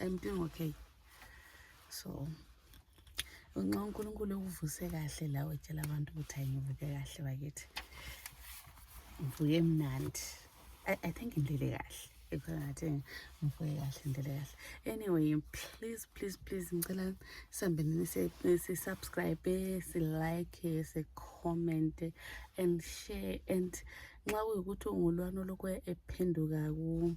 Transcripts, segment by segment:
I'm doing okay. So nxa uNkulunkulu ukuvuse kahle lawe tshela abantu ukuthi angivuke kahle bakithi. Ngivuke mnandi. I, I think ngilele kahle. Ikhongathi ngivuke kahle ngilele kahle. Anyway, please please please ngicela sambeni si subscribe, si like, si comment and share and nxa kuyikuthi ungulwana lokho ephenduka ku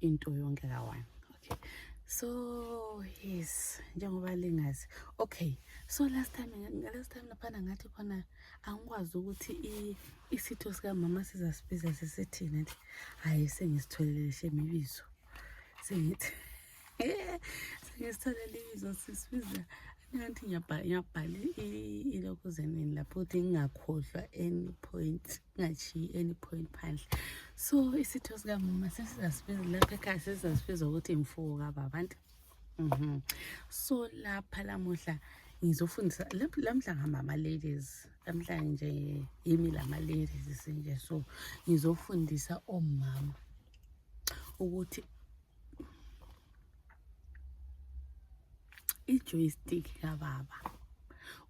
into yonke kawane okay so yes njengoba lingazi okay so last time last time laphana ngathi khona angikwazi ukuthi isitho sikamama sizasibiza sisithini nti hhayi sengisitholele shemibizo sengithi sengisitholele ibizo sisibiza ngathi ngiyabhala ilokhu zenini lapho ukuthi ngingakhohlwa any point ngatshiyi any point phandle so isitho sikamama sesizasibiza lapha ekhaya sesizasibiza ukuthi mfuwo kababantu mhm. so lapha lamuhla ngizofundisa lamhla ngamama ladies lamhla nje yimi lama ladies sinje so ngizofundisa omama ukuthi i-joystick kababa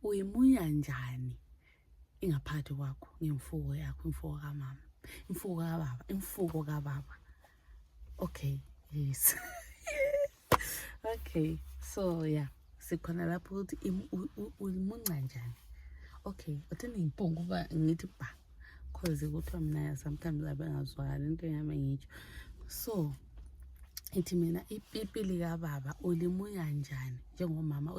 uyimunya njani ingaphakathi kwakho ngemfuko yakho imfuko kamama imfuko kababa imfuko kababa okay yes okay so yeah sikhona lapho ukuthi ulimunca njani okay uthi ngiyimpunga uba ngithi ba cause kuthiwa mina sometimes abengazwakali into yami ngitsho so ithi mina ipipi likababa ulimunya njani njengomama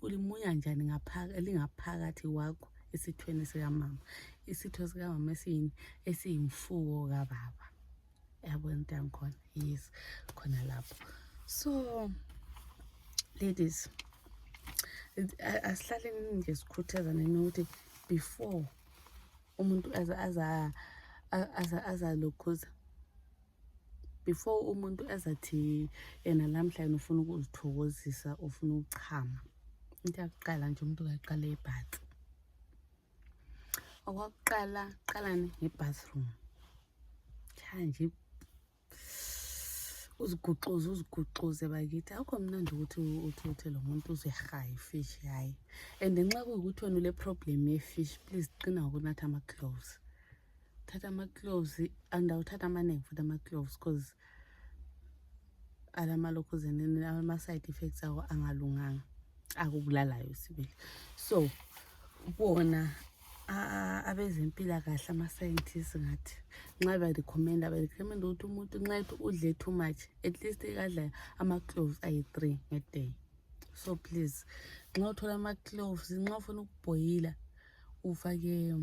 ulimunya njani elingaphakathi kwakho esithweni sikamama isitho sikamama esiyini esiyimfuko kababa yabona into yangikhona yes khona lapho so ladies asihlaleni nje sikhuthazaneni ukuthi before umuntu aza aza aza aza lokhuza before umuntu ezathi yena lamhla yena ufuna ukuzithokozisa ufuna ukuchama into yakuqala nje umuntu kaqale ibhatsi okwakuqala qalani ngebathroom tshaya nje uziguxuze uziguxuze bakithi akho mnandi ukuthi uthi uthe lo muntu uzehaya ifish hhayi and nxa kuyukuthi wena ule problem yefish please qina ngokunatha ama-gloves thatha ama-cloves andawuthatha amaningi futhi ama-cloves because alamalokhuzeni ama-side effects awo angalunganga akubulalayo sibili so bona abezempilakahle ama-scientist ngathi nxa berecommenda berecommenda ukuthi umuntu nxa ethi udle too much at least ikadla ama-cloves ayi-three ngeday so please nxa uthola ama-cloves nxa ufuna ukubhoyila ufake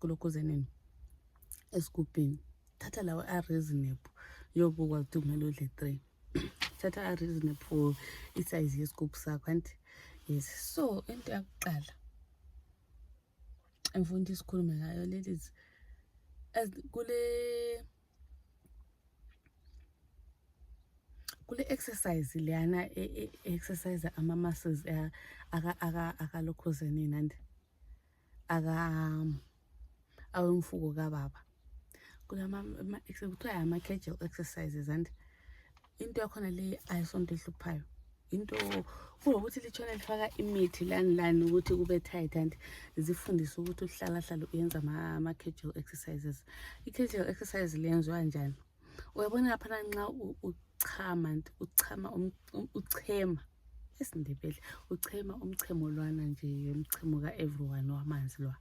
kulokhuzaneni esigubhini thatha lawo a-reasonable yobukwa ukuthi kumele udle three thatha a-reasonable for isayizi yesigubhu sakho anti yes so into yakuqala engifuna ukuthi isikhulume ngayo ladies kule kule exercise leyana e, e, exercise ama muscles eh, aka aka akalokhozeni nandi aka awemfuko kababa kulama kuthiwa ama casual exercises and into yakhona leyi ayisonto ehluphayo into kulokuthi litshona lifaka imithi lani lani ukuthi kube tight and zifundise ukuthi uhlalahlala uyenza ama-casual exercises i-casual exercise lenziwa njani uyabona laphana nxa uchama and uchama um, um, uchema esindebele uchema umchemo lwana nje umchemo ka-everyone wamanzi lwa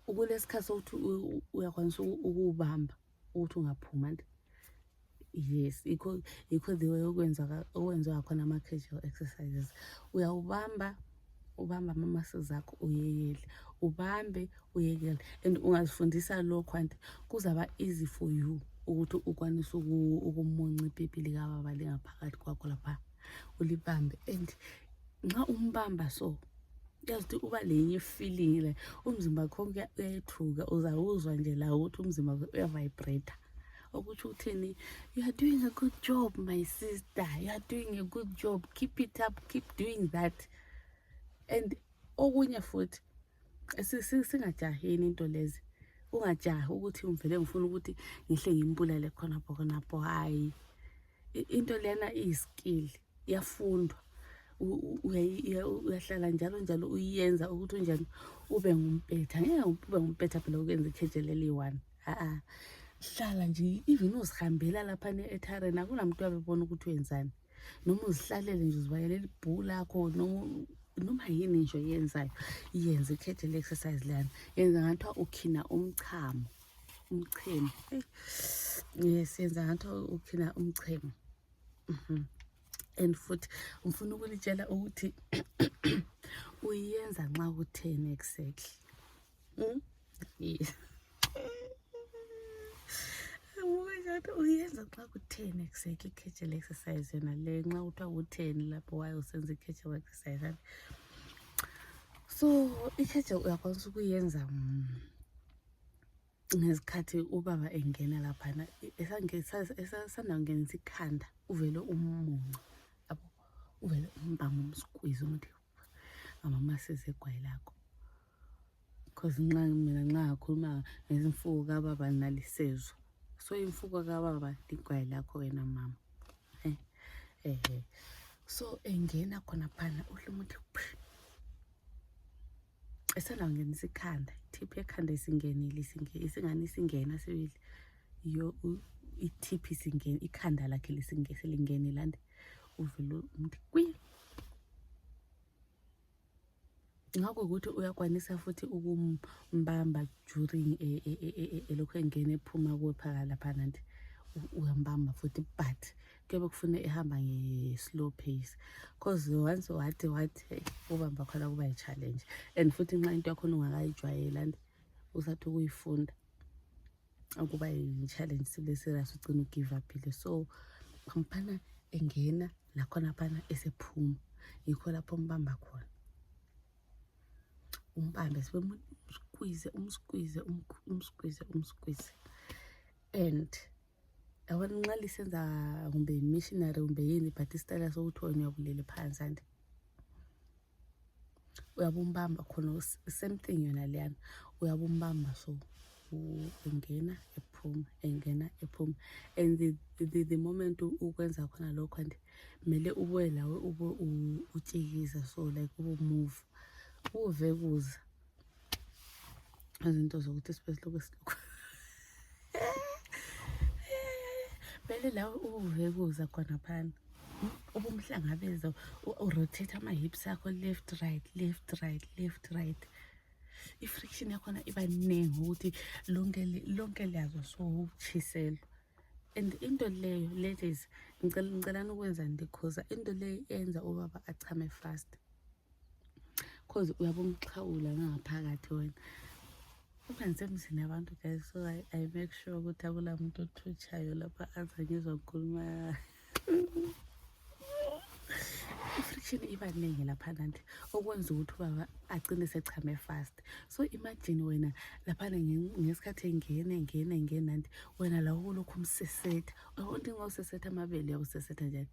ukulesikhathi sokuthi uyakwanisa ukuwubamba ukuthi ungaphuma nto yes ikho ikho the way okwenzeka okwenziwa khona ama-casual exercises uyawubamba ubamba amamasi zakho uyeyele ubambe uyekele and ungazifundisa lokho anti kuzaba easy for you ukuthi ukwanise ukumunca ipipi likababa lingaphakathi kwakho laphaa ulibambe and nxa umbamba so uyazithi uba lenye feeling le umzimba kho uyayethuka uzawuzwa nje la ukuthi umzimba uyavibrata okutsho ukuthini you are doing a good job my sister you are doing a good job keep it up keep doing that and okunye futhi singajaheni into lezi ungajahi ukuthi ngivele ngifuna ukuthi ngihle ngimbulale khonapho khonapho hhayi into lena iyiskill yafundwa uyahlala njalo njalo uyiyenza ukuthi unjani ube ngumpetha ngeke ube ngumpetha phela ukwenza ikheje leli one a-a hlala nje even uzihambela lapha ne-etaren akunamntu abebona ukuthi wenzani noma uzihlalele nje uzibayele libhuu lakho noma yini nje oyenzayo yenze ikhethe le-exercise lana yenza ngathiwa ukhina umchamo umchemo yes yenza ngathiwa ukhina umchemo mhm. and futhi ngifuna ukulitshela ukuthi uyenza nxa kutheni exactly uyenza xa kutheni ekuseka i-catchel exercise yona le nxa kuthiwa kutheni lapho waye usenza i-catchel exercise ane so i-catchel uyakwanisa ukuyenza mm, ngezikhathi ubaba engena laphana esanda kungenisa ikhanda uvele umunca abo uvele umbanga umsikwizi umuthi ngamama sizegwayi lakho because nxa mina nxa ngakhuluma ngezimfuku kababa nalisezwa so imfuku kababa ligwayi lakho wena mama eh, eh, eh. so engena khona phana uhle umuthi esangangenisa ikhanda ithiphi ekhanda isingenile isingani isingena sibili yo ithiphi isingeni ikhanda lakhe lisingeselingenile ande uvele umntu kwi nxa kuyikuthi uyakwanisa futhi ukumbamba during eh, eh, eh, elokhu engena ephuma kuwe phaka lapha nanti uyambamba futhi but kuyabe kufuna ehamba nge-slow pace because once wathi wathi hey ubamba khona kuba yi-challenge and futhi nxa into yakhona ungakayijwayeli and usathi ukuyifunda ukuba yi-challenge sibe serious ugcina ugive uphile so phamphana engena lakhona phana esephuma yikho lapho mbamba khona umbambe sibemskwize umskwize umskwize umskwize and yabona nxa lisenza kumbe missionary kumbe yini but isitayela sokuthi wena uyabulele phansi andi uyabumbamba khona same thing yona leyana uyabumbamba so engena ephuma engena ephuma and the, the, the moment ukwenza khona lokho and kumele ubuye lawe ube utshikiza so like ubumove uve kuza izinto zokuthi sibe silokhu silokhu vele la ubuvekuza khona phana ubumhlangabeza urotate ama-hips akho left right left right left right i-friction yakhona iba ningi ukuthi lonke liyazo sowutshiselwa and into leyo ladies ngicelani ukwenza ndikhuza into leyo yenza ubaba achame fast cause uyabe umxhawula ngangaphakathi wena kodwa ngisemzini abantu guys so I, i make sure ukuthi akula muntu othutshayo lapha aza ngizwa ngikhuluma i-friction iba ningi laphana nti okwenza ukuthi ubaba agcine sechame fast so imagine wena laphana ngesikhathi engene ngene ngena nti wena la ukulokhu umsesetha onti ngosesetha amabele uyakusesetha njani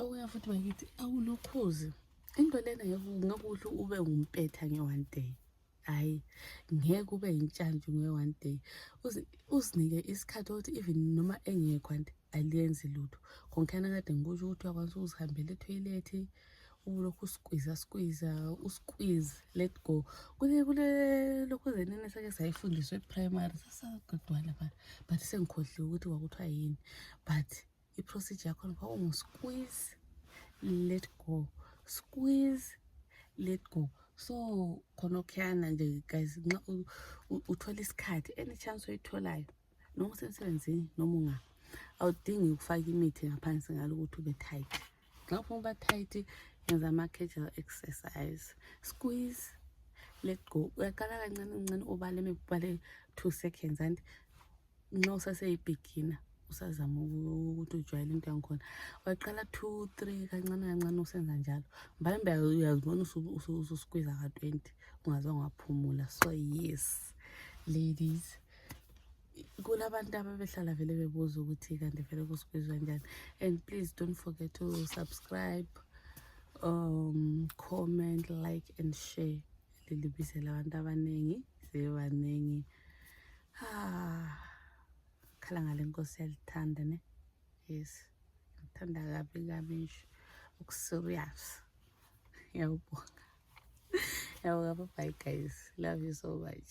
Okuya futhi bakithi awulokhuzi into lena ngekuhle ube ngumpetha nge-one day hhayi ngeke ube yintshantshu nge-one day uzinike isikhathi ukuthi even noma engekho anti aliyenzi lutho khonkhana kade ngikusho ukuthi uyakwanisa ukuzihambela ethoyilethi ubulokhu usikwiza sikwiza usikwiz let go kule kule lokhu zenene sake sayifundiswa eprimary sasagudwana but but sengikhohliwe ukuthi kwakuthiwa yini but iprocedure yakhona kwakungusikwiz let go squiz let go so khona okhuyana nje guys nxa uthole isikhathi any chance oyitholayo noma usemsebenzini noma unga awudingi ukufaka imithi ngaphansi ngalo ukuthi ube tight nxa ufuna uba tight yenza ama-casual exercise squeeze let go uyaqala kancane kancane ubale mekubale two seconds and nxa usaseyibigina usazama ukuthi ujwayele into yangikhona waqala two three kancane kancane usenza njalo mbalambe uyazibona ususikwiza ka-twenty ungaze ungaphumula so yes ladies kulabantu ababehlala vele bebuza ukuthi kanti vele kusibizwa njani and please don't forget to subscribe um comment like and share lilibizela abantu abaningi sebebaningi ah, khala ngale nkosi yalithanda ne yes ngithanda kabi kabi nje ukuserious ngiyawubonga yawuka bye guys love you so much